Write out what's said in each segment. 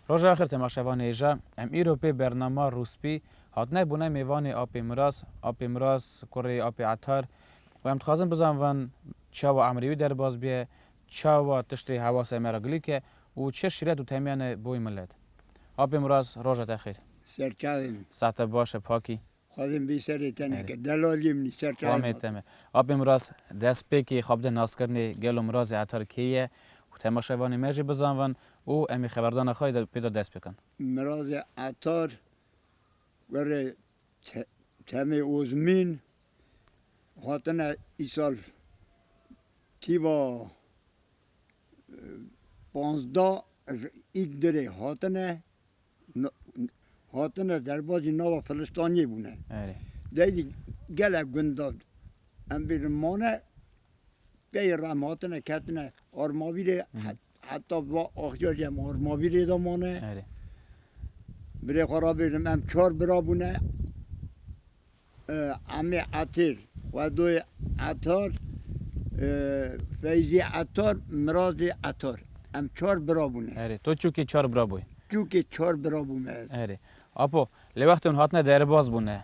Roja axir temaşevan hêja em îro pê bernama rûspî hatine bûne mêvanê Apê Miras, Apê Miras kurê Apê Etar û em dixwazin bizanvin çawa Emrî wî derbas bîye, Çawa tiştê hewasê me re gilîk e û çi şîret û temiyan e bo wî milet. Apê Miraz roja te xêr. Serçavê min. Sax te baş e Pakî. Xwazim bî serê te neke. Delaliyê minî serçavê min. Xwamê te me. Apê Miraz destpêkê xwe bide naskirinê gelo Mirazê Etar kê ye û temaşevanê me jî bizanvin û em ê xeberdana xwe pê de dest bikin. Mirazê Etar were Çemê Ozmîn hatine îsal tîva panzda îd dirê hatine hatine derbazî nava Filistaniyê bûne. Dey dî gele gunda em bêjin mane pey re em hatine ketine armavîrê Heta va axja jî em armavîrê de mane. Erê. Birê xwe rabêjim em çar bira bûne. Amê Etêr, Xwedoyê Etar, Feyzî Etar, Mirazê Etar. Em çar bira bûne. Erê. To çûkê çar bira bûyî? Çûkê çar bira bûme ez. Erê. Apo, lê wextê hûn hatine derbaz bûne.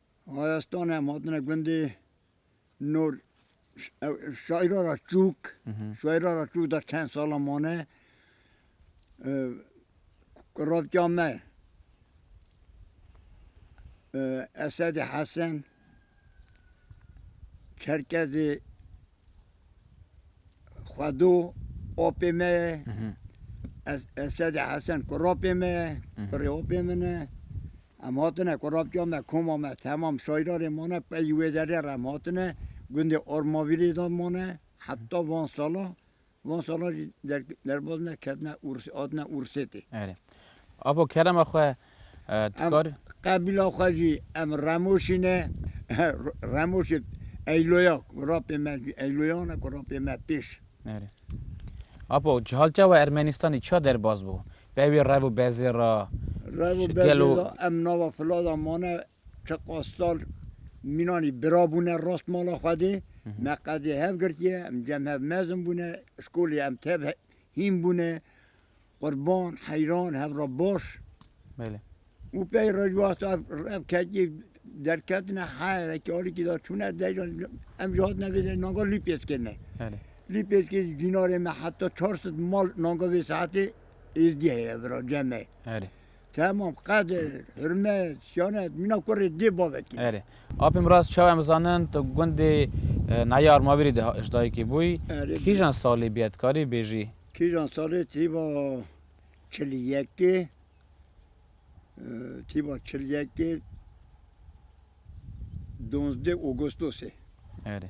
Hayastan em hatine gundê nor şaira ra çûk şaira ra çûk da çend sala mane ravca me Esedê Hesen Çerkezê Xwedo apê me ye. Esedê Hesen kurapê me ye, kurê apê min e. Em hatine kurapçiya me, koma me temam şairarê mane pey wê derê re em hatine. Gundê Ormavîrê de mane heta van sala Van salan jî derbas ne ketine Ûrsê hatine Ûrsê tê. Erê. Abo kerema xwe tu kar. Qebîla xwe jî em Remoşî ne. Remoşê Eyloya ku ra pê me jî Eyloyan e ku ra pê me pêş. Erê. Abo cihaltiya we Ermenîstanî çiya derbas bû? Be wê rev û bezê ra. Rev û bezê ra em nava fila de mane Ke qasdal mînanî bira bûne rast mala Xwedê. Me qedê hev girtiye, em cem hev mezin bûne, şkolê em tev hîn bûne. Qurban, heyran hev ra baş. Belê. Û pey rejwasta ev kecî derketine heyrekî alîkî da çûne deyran em jî hatine vê de nanga Lîpêskê ne. Belê. Lîpêskê jî cînarê me heta çar sed mal nanga vê saetê êzdî heye vira cem e. Belê. Tamam Qadir, Hurmet, Şanet, mîna kurê dê bavekî ne. Erê. Apê Miraz çawa em zanin tu gundê Nayê Armavîrê de ji dayikê bûyî. Erê. Kîjan salî bûye dikarî bêjî? Kîjan salî tîba çil û yekê, tîba çil yekê, donzdeh Ogostosê. Erê.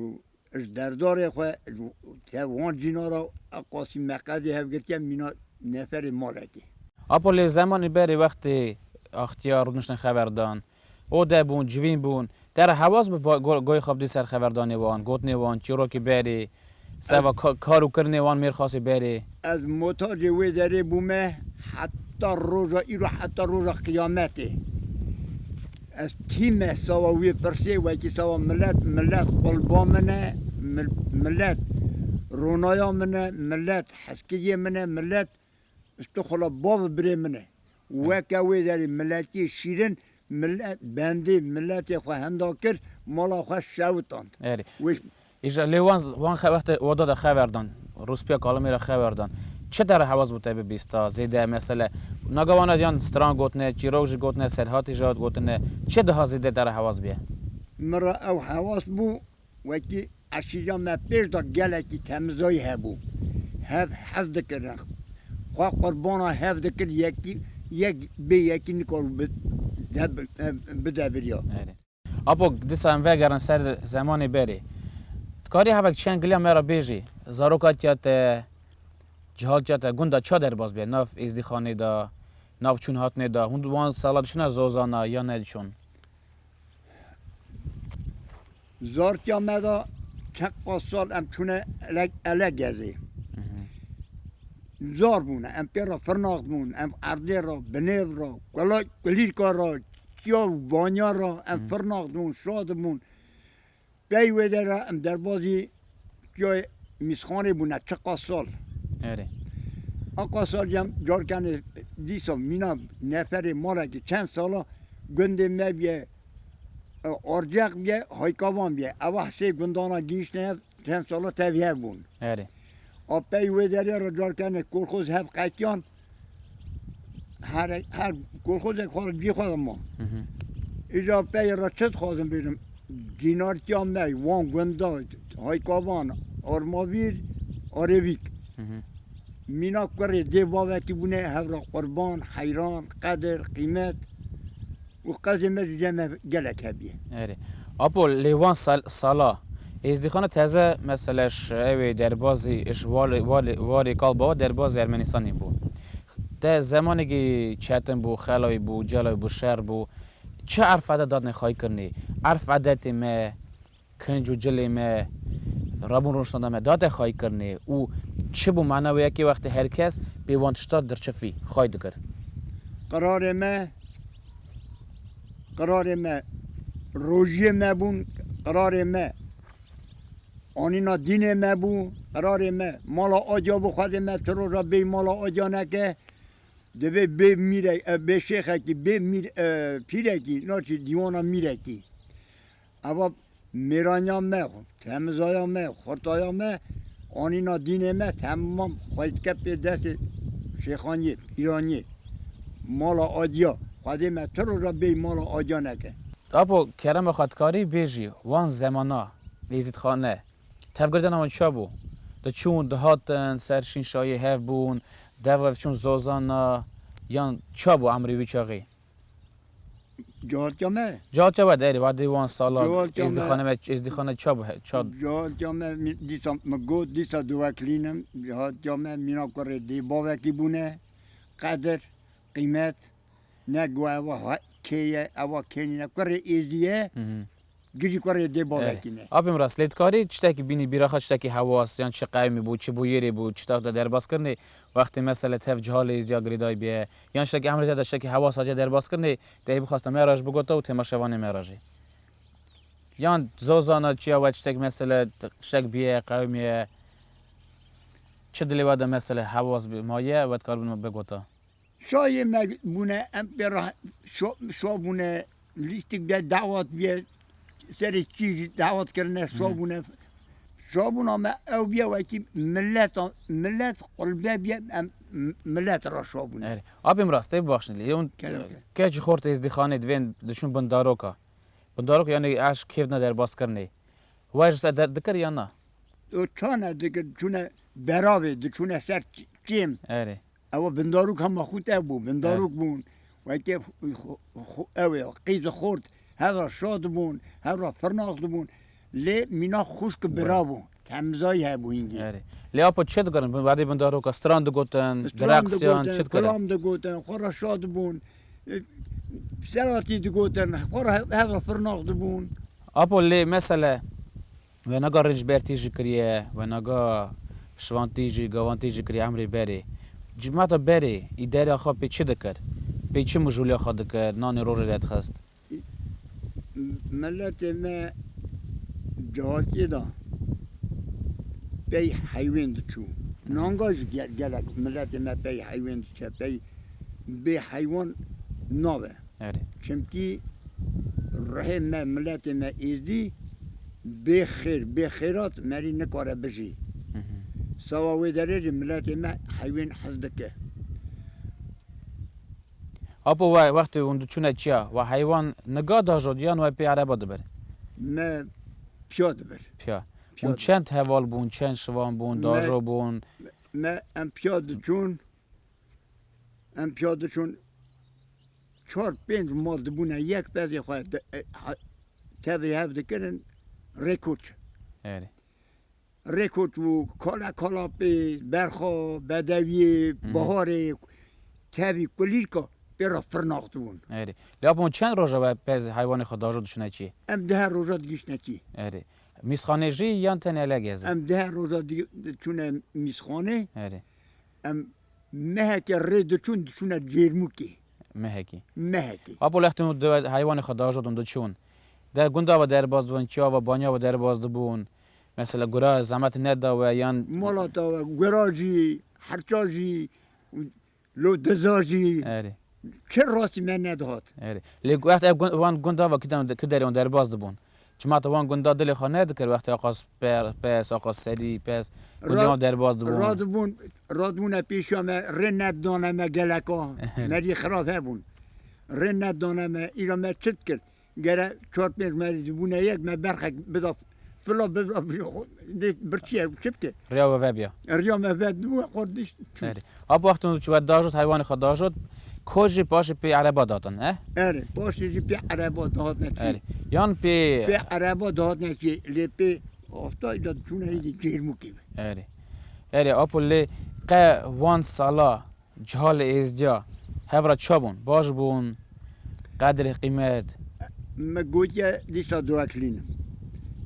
Û ji derdarê xwe ji te wan cîna re a Qasîm Meqedî hevgirtiya mîna neferê malekê. Apo lê zemanê berê wextê Axtiyar rûniştin xeverdan, ode bûn, civîn bûn, te re hewas bû goyê xwe bidî ser xeverdanê wan, gotinê wan, çîrokê berê, Seba kar û kirinê wan mêr xasê berê. Ez muhtacê wê derê bûme heta roja îro heta roja qiyametê. Ez tîme sawa wê pirsê wekî sawa milet, milet qulba min e, milet ronaya min e, milet heskigê min e, milet Stixula bav birê min e. Weke wê derê miletiyê şîrin milet bendê miletê xwe henda kir, mala xwe sewitand. Erê. Wê Îja lê wan wan xe wextê oda de xever dan, rûspîya kalimî re xever dan. Çi dere hewaz bû te bibîsta, zêde mesele naga wan diyan stran gotine, çîrok jî gotine, serhatî jî hat gotine. Çi daha zêde te re hewaz bîye? Min re ew hewaz bû Wekî eşîra me pêş de gelekî temizayî hebû. Hev hez dikirin. Xwe qurbana hev dikir yekî yek bê yekî nikar bi bide birya. Apo disa em vegerin ser zemanê berê. Ti karî hevek çend giliya me re bêjî, zarokatiya te, cihatiya te gunda ça derbas be? Nav êzdîxanê de, nav çûn hatnê de, hûn di wan sala diçine zozana yan ne diçûn? Zartya me da çend qas sal em çûne ele ele gezê. Zar bûne em pê re firnax bûn, em erdê re, binêv re, kula kulîrka re, çiya û banya re em firnax bûn, şad bûn. Pey wê de re em derbazî çiyayê Mîsxanê bûne çiqas sal. Erê. Aqa sal cem carkenê dîsa mîna neferê malekî çend sala gundê me bîye Arceq bîye Haykavan bîye. Ewa hisê gundana gihîştine hev çend sala tevî hev bûn. Erê. A pey wê derê re carkenê Kolxoz hev qetiyan. her her kolxozek xwe cî xwe de ma. Îja peyê re çi dixwazim bêrim? Cînartiya me wan gunda Haykavan, Armavîr, Arêvîk. Mîna kurê dê bavekî bûne hevra qurban, heyran, qedir, qîmet. Û qazê me ji cem me gelek hebîye. Erê. Apo lê wan sal sala Êzdîxana teze mesela ji ewê derbazî ji wali wali warê Kalbawa derbazî Ermenîstanî bû. Te zemanekî çetin bû, xelawî bû, celawî bû, şer bû. Çi erf edet dadine xayî kirinê? Erf edetê me Kinc û cilê me rabûn roj sanda me date xayî kirnê û çi bû mana wê ye kê wextê her kes bê wan tişta dirçifî xayî dikir. Qirarê me qirarê me rojiyê me bûn qirarê me anîna dînê me bû qirarê me mala aciya bû xwedê me tu roja bêyî mala aciya neke divê bê mîre bê şêxekî bê mîr pîrekî naçî dîwana mîrekî. Eva mêraniya me, temizaya me, xurtaya me, anîna dînê me temam xwe dike pê destê şêxaniyê, pîraniyê. Mala Adiya, xwedê me tu roja bêyî mala Adiya neke. Apo Kerema Xatkarî bêjî wan zemana Êzîdxane, tevgirtina wan ça bû? Diçûn, dihatin, ser şînşayê hev bûn, dev rev çûn zozana yan ça bû emrê wî çaxê? Cihatiya me? Cihatiya we deyrê wa dê wan sala êzdîxane me êzdîxane ça bu ça? Cihatiya me dîsa min got dîsa diweklînim cihatiya me mîna kurê dê bavekî bûne qedir qîmet ne guh ewa kê ye ewa kê nîne kurê êzdî ye Gijî ku rê dê bavekî ne. Apê min re Slate karî tiştekî bînî bîra xwe tiştekî hewas yan çi qewimî bû çi bûyerê bû çi tiştek de derbas kirinê wextê mesele tev ciha lê zîya girêdayî bîye yan tiştekî emrê te de tiştekî hewas aciye derbas kirinê tehî bixwaste me re ji bigota û temaşevanê me re jî yan zor zana çiya we tiştek mesele tiştek bîye qewimî ye çi dilê we de mesele hewas bî maye we dikar bigota. Şayê me bûne em pê re şo bûne lîstik de dawet bûye serê kî jî dawet kirine şo bûne. Şobûna me ew bûye wekî milet milet qulbe bûye em milet re şo bûne. Erê. Abê min rastê bibexşîne lê yewn keç xort ê zdîxanê divên diçûn bin daroka. Bin daroka yanî eşq kêf ne derbas kirinê. Wer ji ser der dikir yan na? Çane dikir çûne beravê diçûne ser kêm. Erê. Ew bindarok hema xwe te bû, bindarok bûn. Weke ew ê qîz û xort her ra şa dibûn, her ra firnax dibûn. Lê mîna xwişk û bira bûn. Temizayî hebû hîngî. Erê. Lê apo çi dikirin? Bi wadî bindaroka stran digotin, direqsiyan, çi dikirin? Stran digotin, xwe ra şa dibûn. Selatî digotin, xwe ra her ra firnax dibûn. Apo lê mesele. Wenaga rêncber tî jî kiriye, wenaga şivan tî jî, gavan tî jî kiriye emrê berê. Cîmata berê îdereya xwe pê çi dikir? Pê çi mijûlê xwe dikir, nanê rojê re dixist? Miletê me cihatiyê de pey heywên diçû. Nanga jî gelek miletê me pey heywên diçe, pey bê heywan nabe. Erê. Çimkî rihê me, miletê me Êzdî bê xêr, bê xêrat merî nikare bijî. Sawa wê derê jî miletê me heywên hez dike. Apo we wextê hûn diçûne çiya, we heywan niga dajot yan we pê ereba dibir? Me piya dibir. Piya. Hûn çend heval bûn, çend şivan bûn, dajo bûn? Me em piya diçûn Em piya diçûn çar pênc mal dibûne yek pezê xwe tevê hev dikirin rê koç. Erê. Rê koç û kala kalapê, berxa, bedewiyê, baharê tevî kulîrka pê re firnaxdibûn. Erê. Lap hûn çend roja we pez heywanê xwe dajo diçûne çî? Em di her roja digihîştine çî. Erê. Mîsxanê jî yan tenê elege zi? Em di her roja diçûne mîsxanê. Erê. Em mehekê rê diçûn diçûne Cêrmûkê. Mehekê. Mehekê. Apo lextên û diwet heywanê xwe diajodin diçûn. Der gunda ve derbas dibûn, çiya ve baniya ve derbas dibûn. Mesela gura zehmet neda we yan. Malata we gura jî, herça jî, lo diza jî. Erê. Çi rastî me nedihat. Erê. Lê wext ev gund wan gunda va kîdan di ki derê wan derbas dibûn. Çima ta wan gunda dilê xwe nedikir wextê Aqas per pes, Aqas serî pes gundê wan derbas dibûn. Radibûn radibûne pêşiya me rê nedidane me geleka me dî xirab hebûn. Rê nedidane me îro me çi dikir. Gere çar pênc me zî bûne yek me berxek bida fila bibra bîra xwe dê birçîye çi bike. Riya we vebîya. Riya me ve dibû we xwe dişt çû. Erê. A bi wextan çû we dajot heywanê xwe dajot ko jî paşê pê ereba datin he? Erê paşê jî pê ereba dihatine çî. Erê. Yan pê. Pê ereba dihatine çî lê pê astayî de diçûne hînî cêrmûkê ve. Erê. Erê Apo lê qe wan sala Ciha li Êzdiya hev re çi bûn? Baş bûn? Qedr, qîmet? Me gotiye dîsa dûeklînin.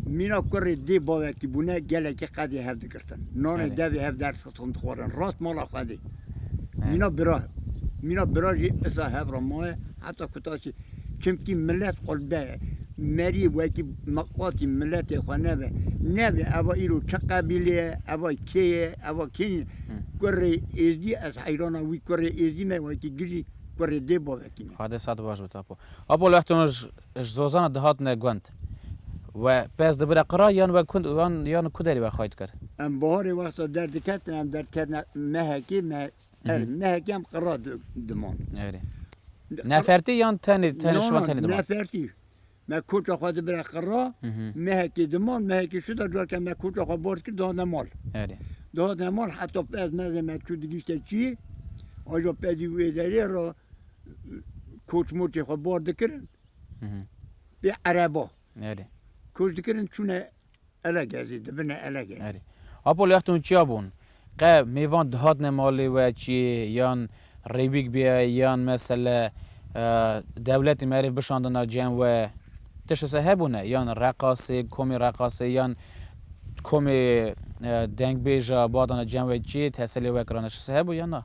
Mîna kurê dê bavekî bûne gelekî qedê hev digirtin. Nanê devê hev der siton dixwarin. Rast mala Xwedê. Mîna bira. Mîna bira jî isa hev re maye heta ku taşî. Çimkî milet xwirde ye. Merî wekî miqatî miletê xwe nebe. Nebe eva îro çi qebîlê ye, eva kê ye, eva kînî ye. Kurê Êzdî ez heyrana wî kurê Êzdî me wekî gijî kurê dê bavekî ne. Xwedê sat baş bit Apo. Apo li wextê wan ji Zozana dihatine gund we pez dibire qira yan we ku yan ku derî we xayt kir? Em baharê wexta derdiketine em derdiketine mehekê me Erê nehekî em qira diman. Erê. Nefertî yan tenê tenê şivan tenê diman? Nefertî. Me koça xwe dibire qira, nehekî diman, nehekî şi de careke me koça xwe bor kir dihate mal. Erê. Dihate mal heta pez mezê me çû digîşte çî, aja pezî wê derê re koç moçê xwe bor dikirin pê ereba. Erê. Koç dikirin çûne Elek ez ê dibine elek e. Erê. Apo lê extên çiya bûn? Qe mêvan dihatine malê we çiyê yan rêwîk bîye yan mesele dewletê merêv bişandina cem we tişt wisa hebûne? Yan reqasê komê reqasê yan komê dengbêja badana cem we çiyê teselê we kirane tişt wisa hebû yan na?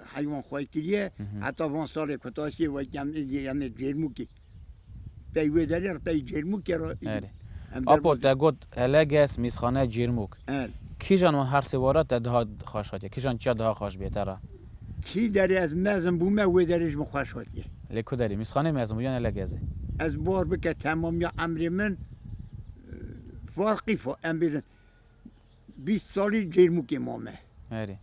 heywan xwe kiriye heta van salê ku ta şê wek em em ê Cêrmûkê pey wê derê re pey Cêrmûkê re Erê. em Apo derbozê. te got Eleges, Mîsxane, Cêrmûk. Erê. Kîjan wan her sê were te daha xweş hatiye? Kîjan çiya daha xweş bûye te re? Kî derê ez mezin bûme wê derê ji min xweş hatiye. Lê ku derê? Mîsxaneyê mezin bû yan Elegezê? Ez bar bike temamiya emrê min farqî fa em bêjin bîst salî Cêrmûkê mame. Erê.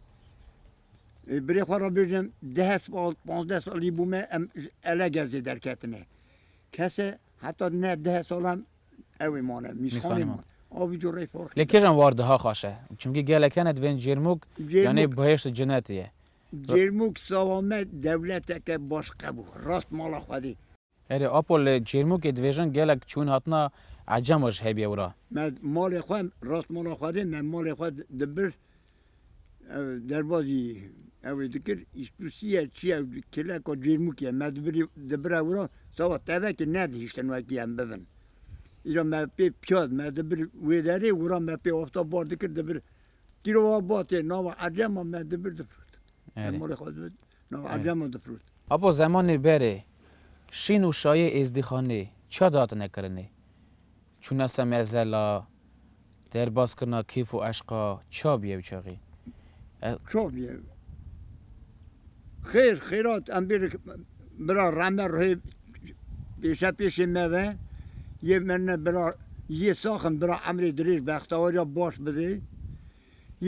Birê xwe re bêjim deh sal pazdeh salî bû me em ji Elegezê derketine. Kese heta ne deh salan ewê mane Mîsxanê man. Avî cureyê farqî. Lê kêjan war diha xaşe? Çimkî gelek hene divên Cêrmûk yanê bihêşt û cinetê ye. Cêrmûk sava me dewleteke baş qebû. Rast mala Xwedê. Erê Apo li Çêrmûkê dibêjin gelek çûn hatina ecema ji hebiye wira. Me malê xwe rast mala xwedê me malê xwe dibir ev derbazî ewê dikir îştûsîye çîye kileka Çêrmûkîye me dibirî dibira wira sava tevekî nedihîştin wekî em bibin îro me pê piyad me dibir wê derê wira me pê afta bar dikir dibir kîrova batê nava ecema me dibir difirot me malê xwe dibir Apo zemanê berê Şîn û Şayê Êzdîxanê çiya dihatine kirinê? Çûnase mezela, derbaskirina kêf û eşqa çiya bûye ew çaxê? Ez. Çok bûye. Xêr, xêrat em bêrek bira Rame Ruhê pêşe pêşê me ve yê me ne bira yê sax in, bira emrê dirêj, bextewariya baş bidê.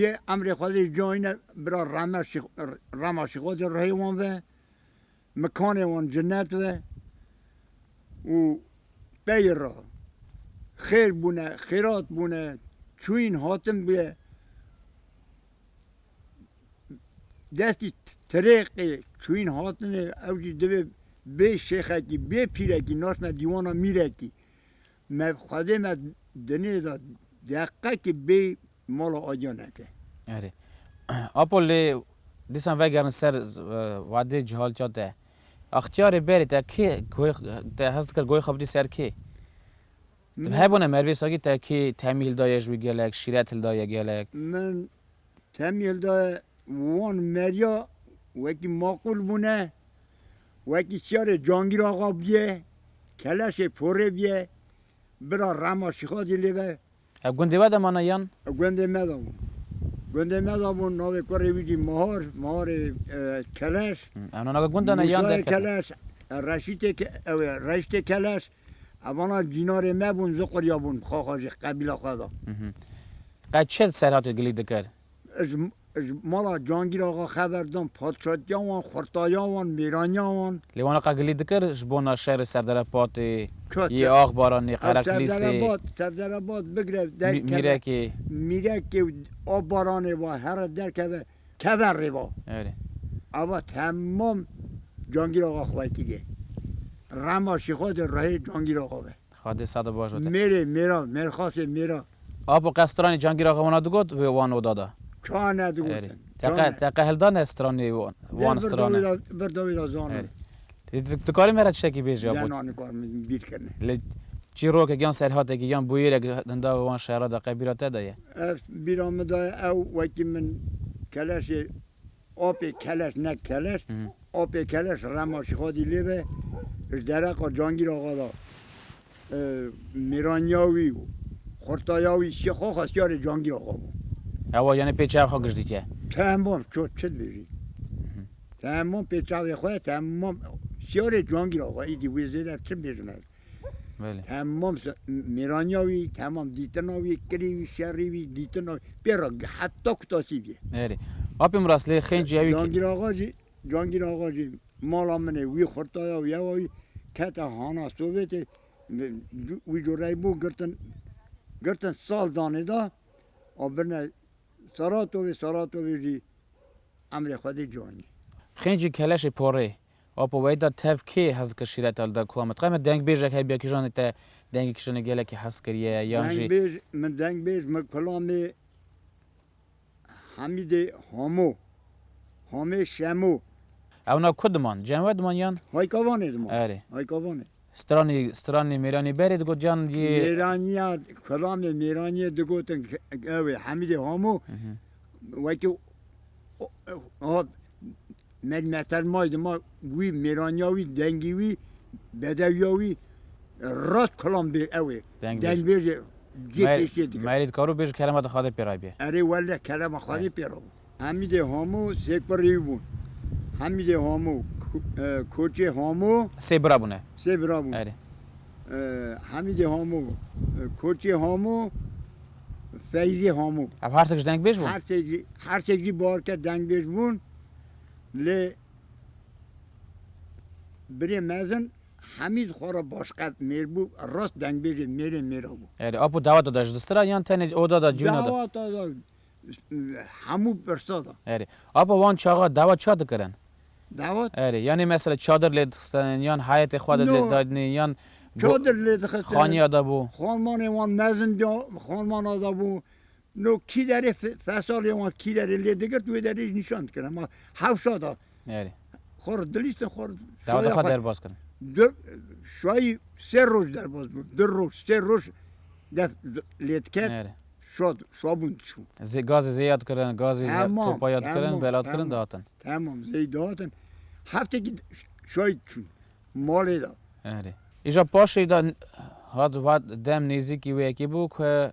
Yê emrê xwedê ji cayine bira reme şî rema şîxozê rihê wan ve, mikanê wan cinnet ve û teyê ra xêr bûne, xêrat bûne, çûyîn hatin bûye. Destî tirêqê çûyîn hatinê ew jî divê bê şêxekî, bê pîrekî naşne dîwana mîrekî. Me xwedê me dinê da deqekî bê mala Aciya neke. Erê. Apo lê dîsan vegerin ser wadê cihaltiya te. Axtiyarê berê te kê goy te hes dikir goy xwe bidî ser kê? Hebûne Mervê Sagî te kê temî hildaye ji wî gelek, şîret hildaye gelek? Min Temyêl de wan meriya wekî maqûl bûne, wekî çiyarê Cangîr Axa bûye, keleşê porê bûye, bira Rema Şîxa jî lê be. Ev gundê we de mane yan? Ew gundê me de bû. Gundê me de bû, navê kurê wî jî Mihar, Miharê Keleş. Ew navê gundane yan derketine? Mûsayê Keleş, Reşîtê, ew ê Reştê Keleş. Evana dînarê me bûn, ji qurya bûn bi xaxa jî qebîla xwe da. Qe çi serhat û gilî dikir? Ez ji mala Cangîr Axa xeber dam, padşatiya wan, xurtaya wan, mêraniya wan. Lê wana qe gilî dikir ji bona şerê Serdere Batê, yê Axbaranê, Qereqlîsê, Mîrekê? Mîrekê û Axbaranê va here derkeve teve rêva. Erê. Ava temam Cangîr Axa xwaytî dê. Rema şîxo de rehê Cangîr Axa be. Xadê sade baş bete. Mêrê mêra, mêrxasê mêra. Apo qe stranê Cangîr Axa wana digot wê wan oda de? Çawa nedigotin? Erê. Teqe teqe hilda ne stranê wan stranê. Vir dawî de zano. Erê. Tu karî me re tiştekî bêjî ya bot. Lê çîrokek yan serhatekî yan bûyêrek hinda wan şera de qe bîra te de ye? Ev bîra min de ye. Ew wekî min keleşê apê keleş ne keleş apê keleş Remaşîxadî lê be ji dereqa Cangîr Axa de mêraniya wî û xurtaya wî şî xwe xwestiyarê cangiya xwe bû. Ewa yanê pê çav xwe giş dike. Temam ço çi dibêjî. Temam pê çavê xwe temam xwestiyarê cangiya xwe îdî wê zêde çi bibêjim ez. Temam mêraniya wî, temam dîtina wî, kirî wî, şerî wî, dîtina wî pê re heta ku tasî bîye. Erê. Apê Miras lê xêncî ewî. Cangiya xwe jî Cangîr Axa jî mala min ê, wî xurtaya û yewa wî kete hana Sovêtê. Wî cureyê bû girtin, girtin sal danê da a birine Saratovê, Saratovê jî emrê Xwedê canî. Xêncî keleşê porê apo weyî da tev kê hez dikir şîreta li da ku me diqe me dengbêjek heye bîya kîjanê te dengê kîjanê gelekî hez kiriye yan jî. Dengbêj, min dengbêj min kulamê. Hamîdê Homo. Homê Şemo. Ew na ku diman? Cem we diman yan? Hayka Vanê diman. Erê. Hayka Vanê. Stranî, stranî mêranî berê digot yan yê. Mêranîya, kulamê mêranîyê digotin ew ê Hamîdê Homo wekî Med Mehter may di ma wî, mêraniya wî, dengî wî, bedewiya wî rast kilam bê ew ê. Dengbêj ê cê pêşkê dike. Merî dikaro bêj kelema di Xwedê pê rabî. Erê wele kelema Xwedê pê rabû. Hemîdê Hamo sê kurî bûn. Hemîdê Hamo, Koçê Hamo. Sê bira bûne. Sê bira bûn. Erê. Hemîdê Hamo, Koçê Hamo, Feyzê Hamo. Ev her sek ji dengbêj bûn? Her sek jî, her sek jî barke dengbêj bûn. Lê birê mezin Hemîd xwe re başqet mêr bû, rast dengbêjê mêrê mêra bû. Erê, apo daweta de ji distira ye yan tenê oda de, cûna de? Daweta de, hemû pirsa de. Erê. Apo wan çaxa dawet çiya dikirin? Dawet? Erê, yanê mesela çadir lê dixistin yan heyetê xwe de lê dadinê yan çadir lê dixistin xaniya de bû? Xanmanê wan mezin de xanmana de bû. No kî derê fesalê wan kî derê lê digirt wê derê jî nîşan dikir hema hewşa da. Erê. Xwe ri dilîstin xwe ri. Dawa de xwe derbas kirin. Du şayî sê roj derbas bûn. Du roj sê roj def lê diket. Erê. Şad şabûn dişû. Zê gazê zêya dikirin gazê topaya dikirin bela dikirin dihatin. Temam zêyî dihatin. Heftekî şayî çûn malê da. Erê. Îja paşê da hat hat dem nêzîkî wê yekê bû ku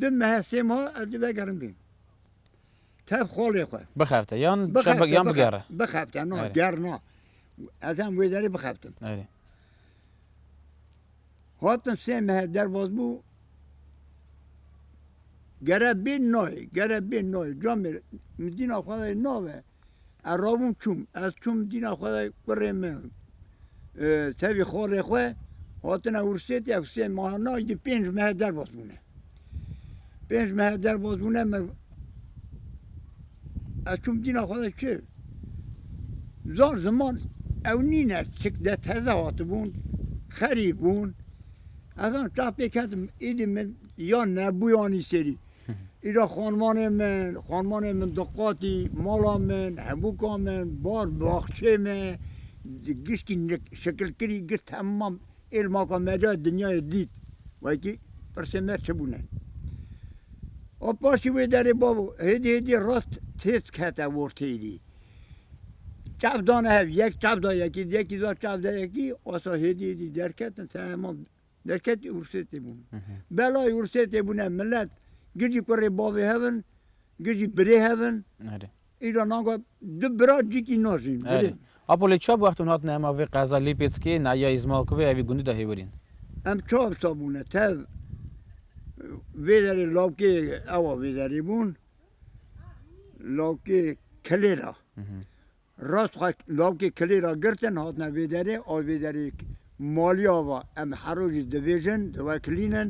Di mehe sê ma ez dê vegerim vê. Tev xolê xwe. Bixebite yan çabek yan bigere. Bixebite na ger na. Ez em wê derê bixebtim. Erê. Hatim sê mehe derbaz bû. Gere bê nayê, gere bê nayê. Camê mizîna xwe nave. Ez rabûm çûm. Ez çûm dîna xwe de kurê min tevî xorê xwe hatine wirsêt ya Husên Mahana îdî pênc mehe derbas bûne. Pênc mehe derbas bûne me ez çûm dîna xwe de çi? Zor ziman ew nîne çik de teze hatibûn, xerî bûn. Ez an çapê ketim îdî min ya nebûyanî serî. Îro xanmanên min, xanmanên min diqatî, mala min, hevûka min, bar, baxçê me, giştî şekilkirî giş temam êrmaka me de dinyayê dît. Wekî pirsên me çi bûne? A paşî wê derê bavo, hêdî hêdî rast têz kete orteyê dî. Çav dane hev, yek çav da yekî, yekî da çav da yekî, asa hêdî hêdî derketin temam. Derketî ursê tê bûn. Belayê ursê tê bûne milet gijî kurê bavê hev in, gijî birê hev in. Erê. Îro naga du bira cikî najîn. Erê. Apo lê çav wextûn hatine hema vê qeza Lîpêtskê, Nahiya Îzmalkûvê hevî gundî de hêwirîn? Em çav sa bûne tev vê derê lawkê ewa vê derê bûn. Lawkê kilêra. Rast xwe lawkê kilê ra girtin hatine vê derê a vê derê maliya va em her rojî dibêjin diwekilînin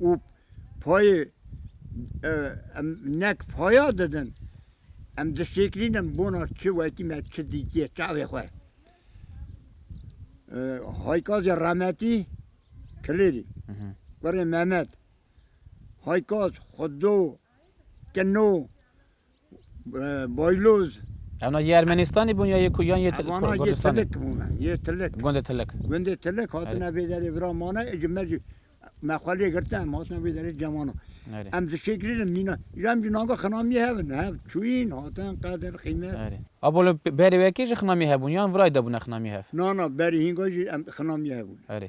û payê em nek paya didin em dişêkilînin bona çi wekî me çi dîtiye çavê xwe. Haykaz ya Remetî Kilêrî kurê Memed Haykaz xwe do kino Bayloz. Ew na yê Ermenistanê bûn ya yê ku yan yê Ti- Ku- Vana yê Kurdistanê? tilik bûne, yê tilik. Gundê Tilik. Gundê tilik hatine vê derê vira mane ê cime cî me xwe lê girte em hatine vê derê cemana. Erê. Em dişêkirînin mîna îro em cî nanga xinamiyê hevin hev çûyîn hatin qedir qîmet. Erê. A bo li berê wekê jî xinamiyê hebûn yan virayê de bûne xinamiyê hev? Na na berê hînga jî em xinamiyê hebûn. Erê.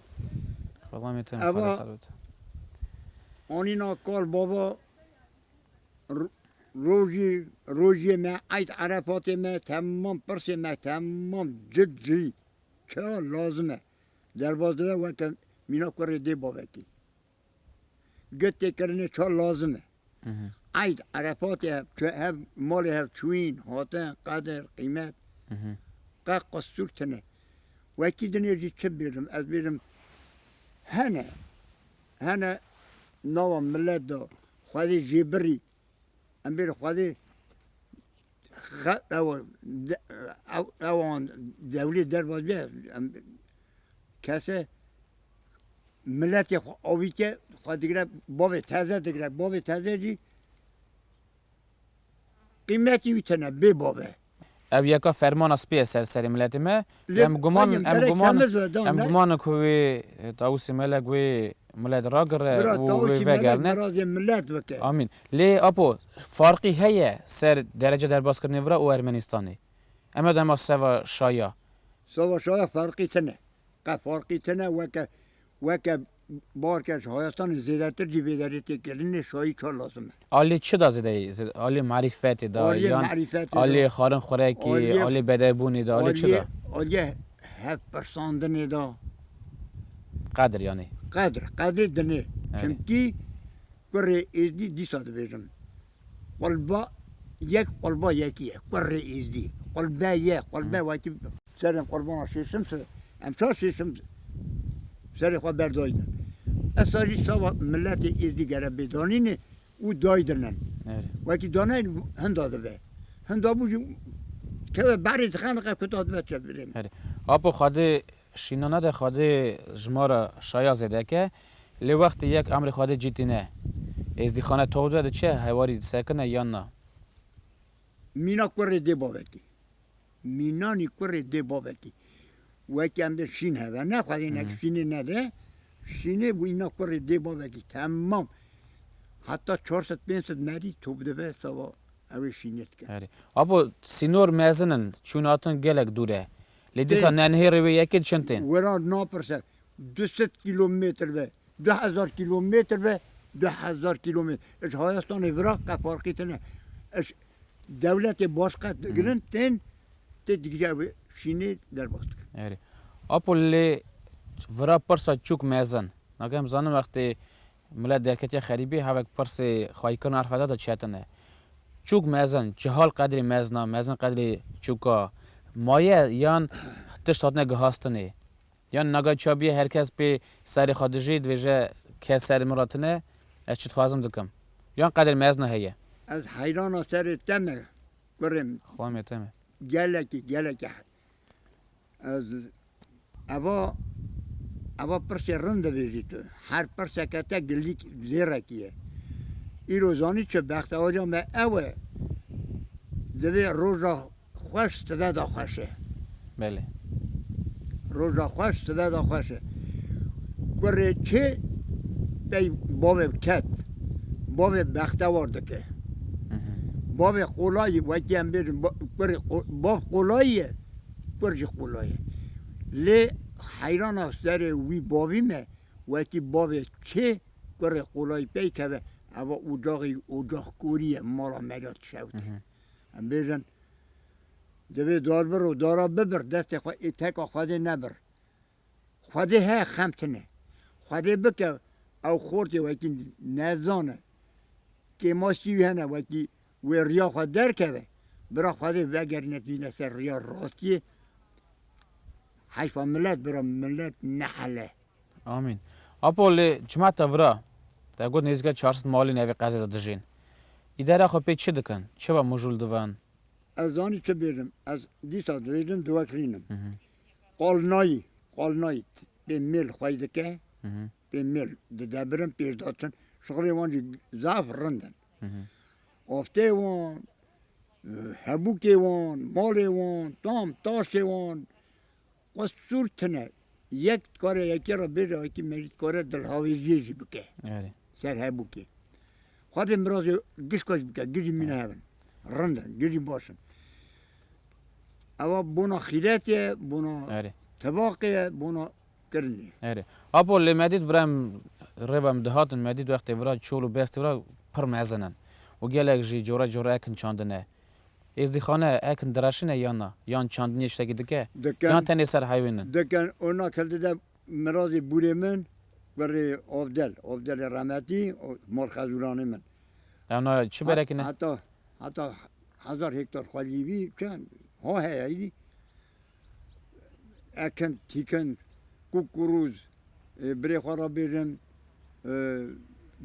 Eva anîna kal bava rojî rojiyê me eyd erefatê me temam pirsê me temam cid cî ka lazim e derbas dibe weke mîna kurê dê bavekî. Gund têkirinê çar lazim e. Eyd, Erefatê hev malê hev çûyîn, hatin, qedir, qîmet. Qe qestûr tune. Wekî dinê jî çi bêjim, ez bêjim hene hene nawa milet de xwedê jêbirî Em bêrî xwedî ewan dewlê derbas bê kese miletê xwe avî ke xwe digre bavê teze digre bavê teze jî qîmetî wî tene bê bave. Ev yeka fermana spî ye ser serê miletê me. Em guman em guman em guman in ku wê Tawusê Melek wê milet ragire û wê vegerine. Amîn. Lê Apo farqî heye ser derece derbaskirinê vira û Ermenîstanê? Eme dema seva şaya. Seva şaya farqî tine. Qe farqî tine weke weke Barkê ji hayastanê zêdetir jî bêderê tê kirin lê şayî çar lazim e. Aliyê çi da zêde yê? Aliyê marîfetê da Aliyê yan marîfetê da. aliyê xwarin xurekê, Aliyê- aliyê bedevbûnê da, aliyê çi da? Aliyê hevpirsandinê da. Qedir yanî. Qedir, qedrê dinê. Çimkî kurê êzidî dîsa dibêjim. Qulba yek qulba yekî ye, qurrê êzdî, qulbe ye, qulbe wekî bi. Serên qurbana sêsim se, em çar sêsim serê xwe berdayine. Esta jî sava miletê êzdî gere bê danînê û daydinin. Wekî daneyê hinda dibe. Hinda bû jî keve berê dixe dixe kuta dibe çevirê min. Apo Xwedê Şînana de Xwedê ji ma re şaya zêdek e, lê wextê yek emrê Xwedê cî tîne. Êzdîxane tor de diçe, hewarî disekine yan na. Mîna kurê dê bavekî. Mînanî kurê dê bavekî. Wekî em dê şîn heve. Ne Xwedê nek şînê nede. Şînê wîna kurê dê bavekî temam. Heta çar sed pênc sed merî top dive sava ew ê şînê dike. Apo sînor mezin in, çûn hatin gelek dûr e. Lê dîsa nenhêrê wê yekê di çend tên? Weran napirse du sed kîlometr be, du hezar kîlometr be, du hezar kîlometr ji Hayestanê vira qet farqî tine. Ji dewletê baş qet digrin tên tê digije ew ê şînê derbas dikin. Erê. Apo lê vira pirsa çûk mezin. Nake em zanin wextê Milet derketiye xerîbî, hevek pirsê xwayîkirina erfa de diçetine. Çûk mezin, cihal qedrê mezina, mezin qedrê çûka, maye yan tişt hatine gihastinê. Yan nagay ça bîye her kes pê serê xwe dijî, dibêje kes serê min re tine, ez çi dixwazim dikim. Yan qedrê mezina heye. Ez heyrana serê te me kurê min. Xwemê te me. Gelekî, gelekî hed. Ez eva eva pirsê rind dibêjî tu. Her pirseke te gilîk zêrekî ye. Îro zanî çi bextewaja me ew e divê roja xweş sive de xweş e. Belê. Roja xweş sive de xweş e. Kurê çê pey bavê ket. bavê bextewar dike. Bavê qolayî wekî em bêjin kurê bav qolayî ye, kur jî qolay e. Lê heyrana serê wî bavî me wekî bavê çê kurê qolayî peykeve eva ocaxî ocax korî ye mala me re dişewite. Em bêjin divê dar bir û dara bibir destê xwe ê teka xwedê nebir. Xwedê heye xem tine. Xwedê bike ew xortê wekî nezane. Kêmaşkî wî hene wekî wê riya xwe derkeve. Bira xwedê vegerîne tîne ser riya rastiyê. Heyfa milet bira milet nehele. Amîn. Apo lê çima te vira? Te got nêzîka çar sed malên evê qezê de dijîn. Îdara xwe pê çi dikin? Çiva mijûl divin? Ez zanî çi bêjim. Ez dîsa dibêjim diwekirînim. Qalnayî, qalnayî pê mêl xwey dike, pê mêl didebirin, pêş datin, şixulê wan jî zaf rind in. Aftê wan, hebûkê wan, malê wan, tam taşê wan xwe sûr tine. Yek dikare yekê re bêje wekî me jî dikare dilhawêjiyê jî bike ser hebûkê. Xwedê mirazê giş xweş bike, giş jî mîne hev in, rind in, giş jî baş in. Ewa bona xîret ye, bona Erê. tebaqê ye, bona kirin ye. Erê. Apo lê medît vira em rêva em dihatin medît wextê vira çol û bestê vira pir mezin in û gelek jî cora cora ekin çandine. Êzdîxane ekin direşine yan na? Yan çandiniyê ji tiştekî dike? Dikin. Yan tenê ser heywên in? Dikin, ona kevde de Miradê bûrê min kurê Ovdel, Ovdelê remetî û mal xezuranê min. Ewna çi berek ne? Heta heta hezar hektar xwelî bî çend ha heye êdî. Ekin, tîkin, kûk û rûz birê xwe re bêjin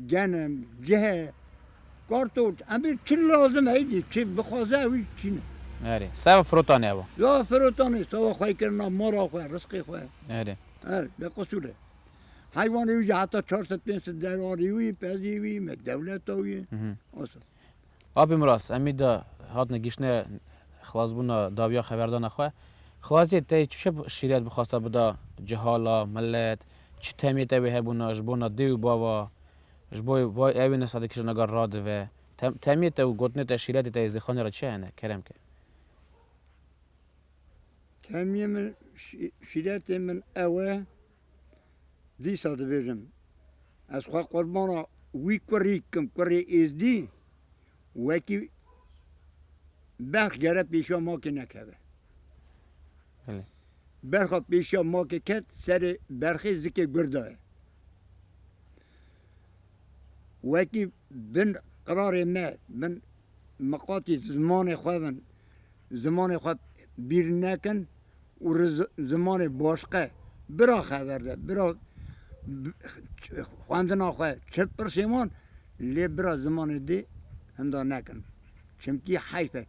Genim, cihe, kartol, emir çi lazim heydî çi bixwaze ew jî tîne. Erê. Seva firotanê ew. Ya firotanê, seva xwe kirina mala xwe, risqê xwe. Erê. Er, be qisûr e. Heywanê wî jî heta çar sed pênc sed derarî wî, pezî wî, me dewleta wî. Osa. Apê min rast emî da hatine gihîştine xilasbûna dawiya xeberdana xwe. Xwaziyê teyê tu çi şîret bixwasta bida cihal a, milet, çi temiyê tewê hebûna ji bona dê û bava, ji bo vay ewê ne sade kiştîna gar radive. Tem temiyê te û gotinê te şîretê te yê zêxanê ra çi hene kerem ke? Temiyê min şî şîretê min ew e Dîsa dibêjim ez xwe qurbana wî kurî dikim, kurê Êzdî wekî berx gere pêşiya makê nekeve. Belê. Berxa pêşiya makê ket serê berxê zikê gur de ye. Wekî bin qirarê me, bin miqatî zimanê xwe bin, zimanê xwe bîr nekin, û ri zimanê başqe bira xever de, bira xwendina xwe çi pirsê wan lê bira zimanê dê hinda nekin. Çimkî heyf e.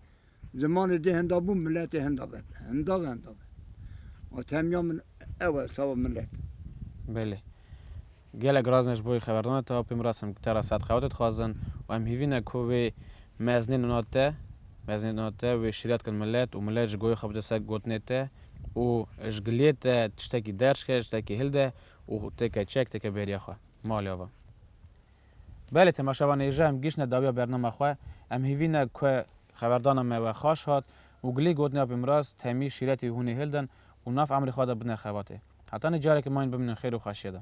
Zimanê dê hinda bû miletê hinda be. Hinda be hinda be. Temiya min ew e sava milet. Belê. Gelek razine ji bo wî xeberdana te apê min re semkutera Sedqewatê dixwazin û em hîvî ne ku wê mezinên wina te mezinên wina te wê şîret bikin milet û milet ji goyê xwe bide ser gotinê te û ji giliyê te tiştekî derç ke, tiştekî hilde û têke çek, têke bêriya xwe. Malê ava. Belê temaşa van hêja em gihîştine dawiya bernama xwe, em hîvî ne ku xeberdana me we xaş hat û gilî gotinê apê Miraz, Temî, Şîretî û hûnê hildin û nav emirê xwe de bidine xebatê. Heta ne careke mayin biminin xêr û xweşiye de.